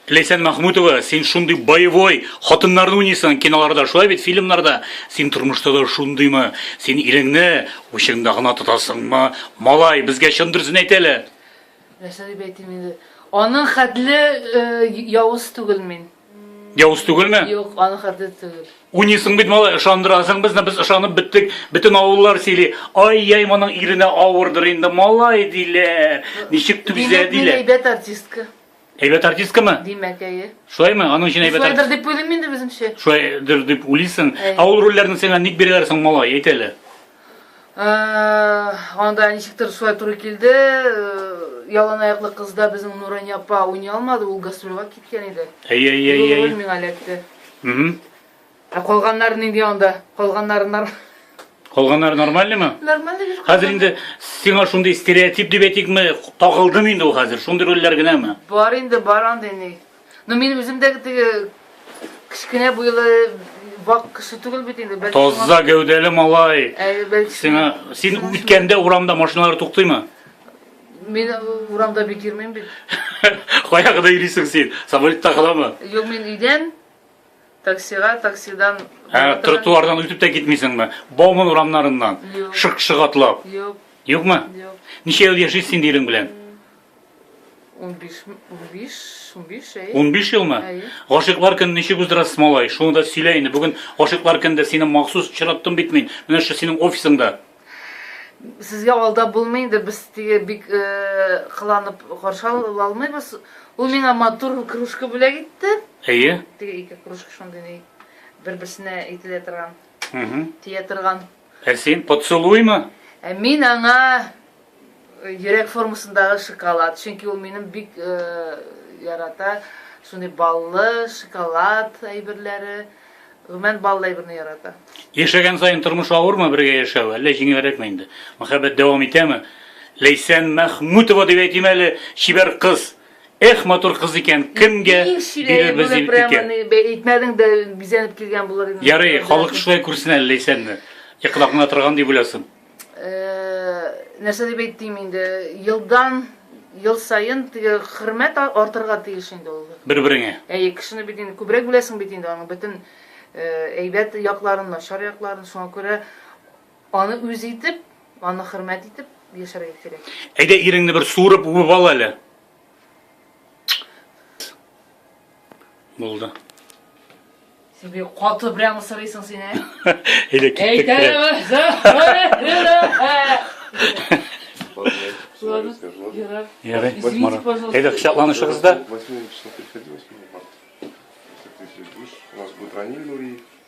Ләйсән Махмутова, син шундый боевой хатыннарны уйныйсың киноларда, шулай бит фильмнарда. Син тормышта да шундыймы? Син иреңне учыңда гына тотасыңмы? Малай, безгә чын дөресен әйт әле. Нәрсә дип әйтим инде? Аның хәтле э, явыз түгел мин. Явыз түгелме? Юк, аны хәрдит түгел. Уйныйсың бит малай, ышандырасың безне, без ышанып беттек. Бөтен авыллар сөйли. Ай, яй моның иренә авырдыр инде, малай диләр. Ничек түзә диләр. Әйбәт артистка. Әйбәт артисткамы? Димәк, әйе. Шулаймы? Аның өчен әйбәт артистка. Шулайдыр дип уйлыйм инде безнеңчә. Шулайдыр дип уйлыйсың. Ә ул рольләрне сиңа ник бирәләр соң, малай, әйт әле. Анда ничектер шулай туры килде. Ялан аяклы кызда безнең Нурания апа уйный алмады, ул гастрольгә киткән иде. Әйе, әйе, әйе. Ул миңа эләкте. Ә калганнар нинди анда? Калганнары нар. Калганнар нормальныймы? Нормально бир. Хәзер инде сиңа шундый стереотип дип әйтикме, тагылдым инде ул хәзер, шундый рольләр генәме? Бар инде, бар андый ни. Ну мин үзем дә теге кечкенә буйлы вак кеше түгел бит инде. Бәлки Таза шуңа- гәүдәле малай. Ә, бәлки Сиңа шуңа- син шуңа- үткәндә урамда машиналар туктыймы? Мин э, урамда бит йөрмим бит. Кая кадәр йөрисең син? Самолетта каламы? Юк, мин өйдән таксига, таксидан Ә, тротуардан үтеп тә китмисеңме? Бауман урамнарыннан Юк. шык-шык атлап. Юк, Юкмы? юк. Ничә ел яшисең син ирең белән? 15 15 15 әй. 15 елмы? Әй. Гашыйклар көнен ничек уздырасыз, малай? Шуны да сөйлә инде. Бүген гашыйклар көнендә сине махсус чираттым бит мин. Менә шушы синең офисыңда. Сезгә алда булмый инде, без теге бик э, кыланып каршы ала алмыйбыз. Ул миңа матур кружка бүләк итте. Әйе. Теге ике кружка шундый ни бер-берсенә әйтелә торган, Мгм. тия торган. Ә син поцелуймы? Ә мин аңа э, йөрәк формасындагы шоколад, чөнки ул минем бик э, ярата шундый баллы шоколад әйберләре. Гомән баллы әйберне ярата. Яшәгән саен тормыш авырмы бергә яшәү, әллә җиңелрәкме инде? Мәхәббәт дәвам итәме? Ләйсән Мәхмүтова дип әйтим әле, чибәр кыз. Эх, матур кыз икән, кемгә бирербез икән? Прямо әйтмәдең дә бизәнеп килгән булыр инде. Ярый, халык шулай күрсен әле Ләйсәнне. Йокыда гына торган дип уйласын. Э, нәрсә дип әйтим инде, елдан ел саен теге хөрмәт артырга тиеш инде ул. Бер-береңә. Әйе, кешене бит инде күбрәк беләсең бит инде аның бөтен э, әйбәт якларын, начар якларын, шуңа күрә Аны үз итеп, аны хөрмәт итеп яшәргә кирәк. Әйдә иреңне бер суырып үбеп ал әле. Булды. Син бик каты прямо сорыйсың син, ә? Әйдә киттек. Ярый, Марат. Әйдә кочакланышыгыз да.